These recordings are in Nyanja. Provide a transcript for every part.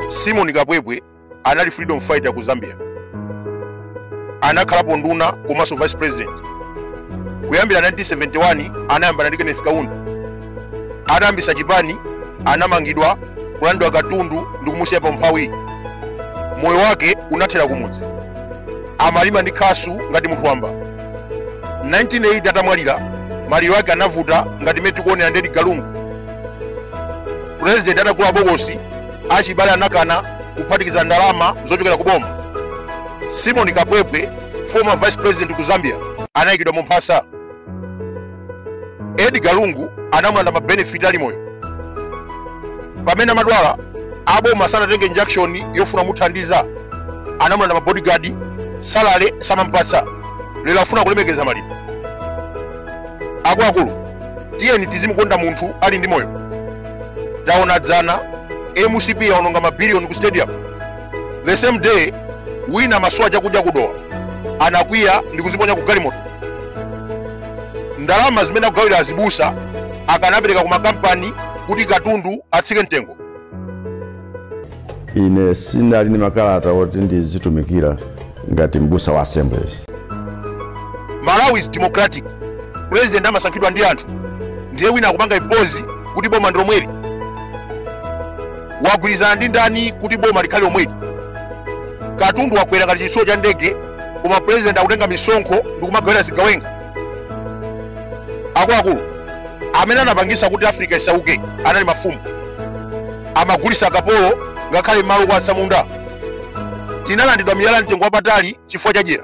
simon kapwepwe anali freedom fighter ku zambia anakhalapo nduna komanso vice president kuyambira 1971 anayambana ndi kenneth kaunda atayambisa chipani anamangidwa kulandidwa katundu ndi kumusiya pa umphawi moyo wake unathera kumudzi amalima ndi khasu ngati munthu wamba 1980 atamwalira maliro ake anavuta ngati mmene tikuonera ndi edgar lungu purezidenti atagula bokosi achibale anakana kuphatikiza ndalama zochokera ku boma simon kapwepwe former vice president ku zambia anayikidwa mu mphasa edgar lungu anamulanda mabenefit ali moyo pamene amadwala aboma sanatenge any action yofuna muthandiza anamulanda mabodyguard salary samampatsa lero afuna kulemekeza maliro akuluakulu tiyeni tizimukonda munthu ali ndi moyo taona dzana mcp yaononga mabiliyoni ku stadium the same day wina wasowa chakudya ku dowa anakwiya ndi kuziponya ku galimoto ndalama zimene akugawira azibusa akanapereka ku makampani kuti katundu atsike mtengo ine sinali ndi makalata oti ndizitumikira ngati mbusa wa assemblies malawi is democratic president amasankhidwa ndi anthu ndiye wina akupanga impose kuti boma ndi lomweli wagwirizana ndi ndani kuti boma likhale lomweli katundu wakwera ngati chitsulo cha ndege koma pulezidenti akutenga misonkho ndi kumagawira zigawenga akuluakulu amene anapangisa kuti afrika isauke anali mafumu amagulisa akapolo ngakhale malo kwa atsamunda tinalandidwa miyala yamtengo wapatali chifukwa cha dyera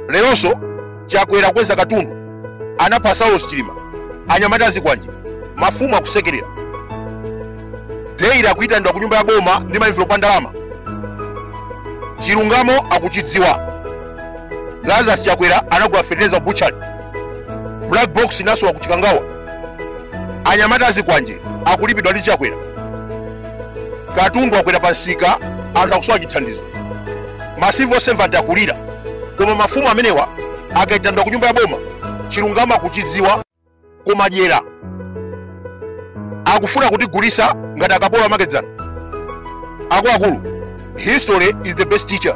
leronso chakwera akweza katundu anapha saulos chilima anyamata azikwanje mafumu akusekerera daily akuyitanidwa ku nyumba ya boma ndi maenvelopu a ndalama chilungamo akuchidziwa lazarus chakwera anagula fetereza ku butchery black box inasowa ku chikangawa anyamata azikwanje akulipidwa ndi chakwera katundu wakwera pansika anthu akusowa chithandizo ma civil servant akulira koma mafumu amenewa akaitanidwa ku nyumba ya boma chilungamo akuchidziwa koma dyera akufuna kutigulisa ngati akapolo amakedzana akuluakulu history is the best teacher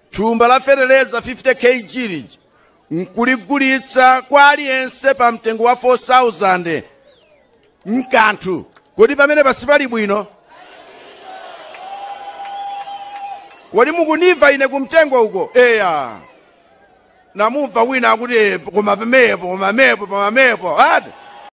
thumba la feteleza 50 kg lija nkuligulitsa kwa aliyense pa mtengo wa 4000 mkanthu kodi pamene pasipali bwino kodi mukundimva ine kumtengo uko eya namumva wina akuti "Eh, koma pamepo koma pamepo koma pamepo ati